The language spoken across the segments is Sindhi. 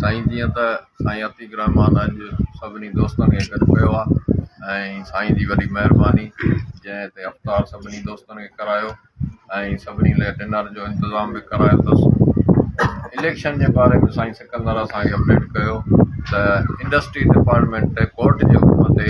سائين جيئن ته سائين عتيق الرحمان اڄ سڀني دوستن کي گڏ ڪيو آهي ۽ سائين جي وڏي مهرباني جنهن هتي افطار سڀني دوستن کي ڪرايو ۽ سڀني لاء ڊنر جو انتظام به ڪرايو اٿس اليڪشن جي باري ۾ سائين سڪندر اسان کي اپڊيٽ ڪيو ته انڊسٽري ڊپارٽمينٽ ڪورٽ جي حڪم تي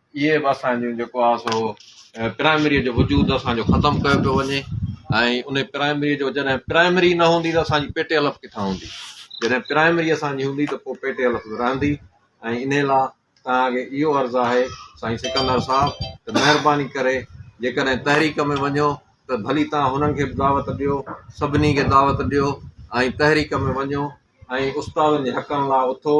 اهي به اسان جون جيڪو آهي سو پرائمريء جو وجود اسان جو ختم ڪيو پيو وڃي ۽ ان پرائمريء جو جڏهن پرائمري نه هوندي ته اسان جي پيٽي الف ڪٿان هوندي جڏهن پرائمري اسان جي هوندي ته پوء پيٽي الف به رهندي ۽ ان لاء توهان کي اهو عرض آهي سائين سڪندر صاحب ته مهرباني ڪري جيڪڏهن تحريڪ ۾ وڃو ته ڀلي توهان هنن کي به دعوت ڏيو سڀني کي دعوت ڏيو ۽ تحريڪ ۾ وڃو ۽ استادن جي حقن لاء اٿو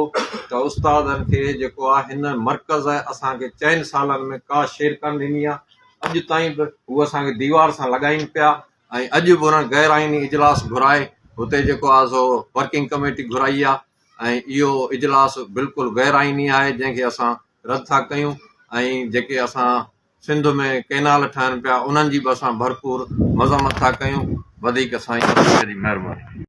ته استادن کي جيڪو آ هن مرڪز اسان کي چئن سالن ۾ ڪا شير ڪانه ڏني آ اڄ تائين به هو اسان کي ديوار سان لڳائين پيا ۽ اڄ به انهن غير آئيني اجلاس گهرائي هتي جيڪو آ سو ورڪنگ ڪميٽي گهرائي آ ۽ اهو اجلاس بلڪل غير آئيني آهي جنهن کي اسان رد ٿا ڪيون ۽ جيڪي اسان سنڌ ۾ ڪينال ٺهن پيا انهن جي به اسان ڀرپور مذمت ٿا ڪيون وڌيڪ سائين مهرباني